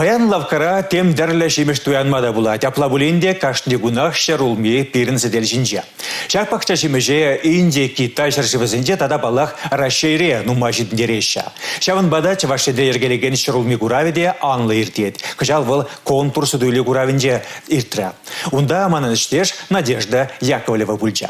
Паян лавккара тем тӗрлӗ ҫимӗҫ туянма та пулать. Апла пулин те кашни кунах ҫӗр улми пирӗн сӗтел ҫинче. Ҫак пахча ҫимӗҫе Инди, Китай ҫӗршывӗсенче тата паллах Раҫҫейре нумай ҫитӗнтереҫҫӗ. Ҫавӑнпа та Чӑваш Енре йӗркелекен ҫӗр улми куравӗ те анлӑ иртет. Кӑҫал вӑл конкурс суту-илӳ куравӗнче иртрӗ. Унта манӑн ӗҫтеш Надежда Яковлева пулчӗ.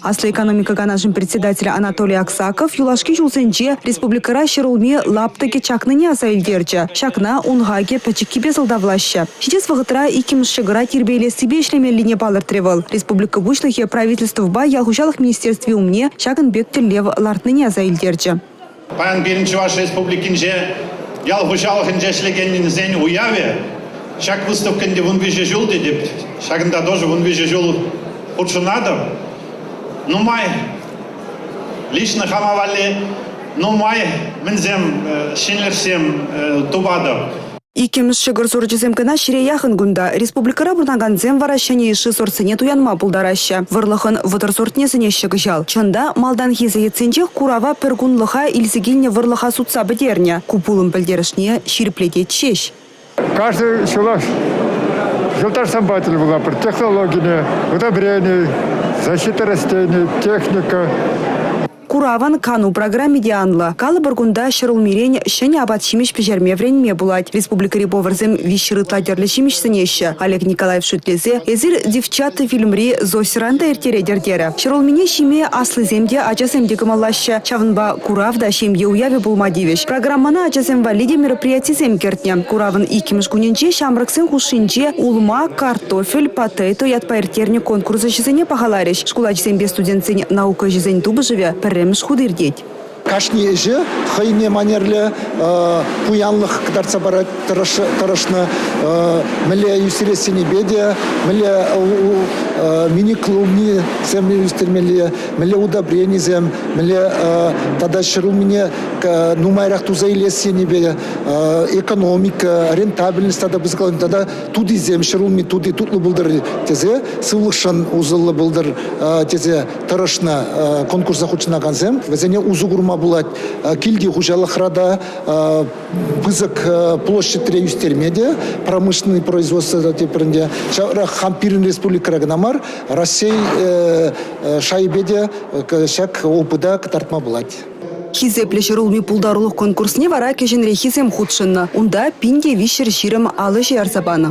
Аслӑ экономика канашӗн председателӗ Анатолий Аксаков юлашки ҫулсенче республикӑра ҫӗр улми лаптӑкӗ чакнине аса илтерчӗ. Ҫакна ун хакӗ пӗчӗккипе сӑлтавлаҫҫӗ. Ҫитес вӑхӑтра иккӗмӗш ҫӑкӑра тирпейлессипе ӗҫлемеллине палӑртрӗ вӑл. Республика Пуҫлӑхӗ Правительствӑпа ял хуҫалӑх министерстви умне ҫакӑн пек тӗллев лартнине аса илтерчӗ. Паян пирӗн Чӑваш Республикинче ял хуҫалӑхӗнче ӗҫлекеннисен уявӗ. Ҫак выставка ӗнтӗ вун виҫӗ ҫул тетӗп. Ҫакӑнта тоже вун виҫӗ ҫул хутшӑнатӑп. Нумай лично хама валли нумай мӗнсем ҫӗнӗлӗхсем тупатӑп. Иккӗмӗш ҫӑкӑр сорчӗсем кӑна ҫире яхӑн кунта. Республикӑра пурӑнакансем вара ҫӗнӗ йышши сортсене туянма пултараҫҫӗ. Вӑрлӑхӑн вӑтӑр сортне сӗнеҫҫӗ кӑҫал. Чӑн та, малтанхи сеятсенчех курава пӗр кунлӑха илсе килнӗ вӑрлӑха сутса пӗтернӗ. Ку пулӑм пӗлтерӗшне ҫирӗплетет ҫеҫ. Каждый ҫулах юлташсем патӗн вулапӑр технологине, удобрений, защита растений, техника. Куравӑн кану программи те анлӑ. Калӑпӑр, кунта ҫӗр улмирен ҫӗнӗ апат-ҫимӗҫ пӗҫерме вӗренме пулать. Республикӑри поварсем виҫҫӗр ытла тӗрлӗ ҫимӗҫ сӗнеҫҫӗ. Олег Николаев шӳтлесе «Эсир девчата» фильмри Зосиран та ирттеретӗр терӗ. Ҫӗр улмине ҫиме аслисем те, ачасем те кӑмӑллаҫҫӗ. Ҫавӑнпа курав та ҫемье уявӗ пулма тивӗҫ. Программӑна ачасем валли те мероприятисем кӗртнӗ. Куравӑн иккӗмӗш кунӗнче ҫамрӑксен хушшинче улма, картофель, потейто ятпа ирттернӗ конкурс ӗҫӗсене пахаларӗҫ. Шкул ачисемпе студентсен наука ӗҫӗсен тупӑшӑвӗ пӗрремӗш хут иртет. Кашни ӗҫе хӑйне манерлӗ пуянлӑх кӑтартса парать тӑрӑшнӑ. Мӗнле юсерессинипе те, мӗнле мини-клубнисем ӳстермелле, мӗнле удобренисем, мӗнле тата ҫӗр умне нумайрах туса илессинипе экономика, рентабельность тата пысӑкланни тата тутисем ҫӗрулми тути тутлӑ пултӑр тесе сывлӑхшӑн усӑллӑ пултӑр тесе тӑрӑшнӑ конкурса хутшӑнакансем. Вӗсене усӑ курма пулать. Килти хуҫалӑхра та пысӑк площадьре ӳстерме те промышленный производство тепринде. Ҫавӑнпах пирӗн республикӑра кӑна мар, Раҫҫей шайӗпе те ҫак опыта кӑтартма пулать. Хисеплӗ ҫӗрулми пултарулӑх конкурсне вара кӗҫӗнреххисем хутшӑннӑ. Унта пин те виҫҫӗр ҫирӗм ал ӗҫе ярса панӑ.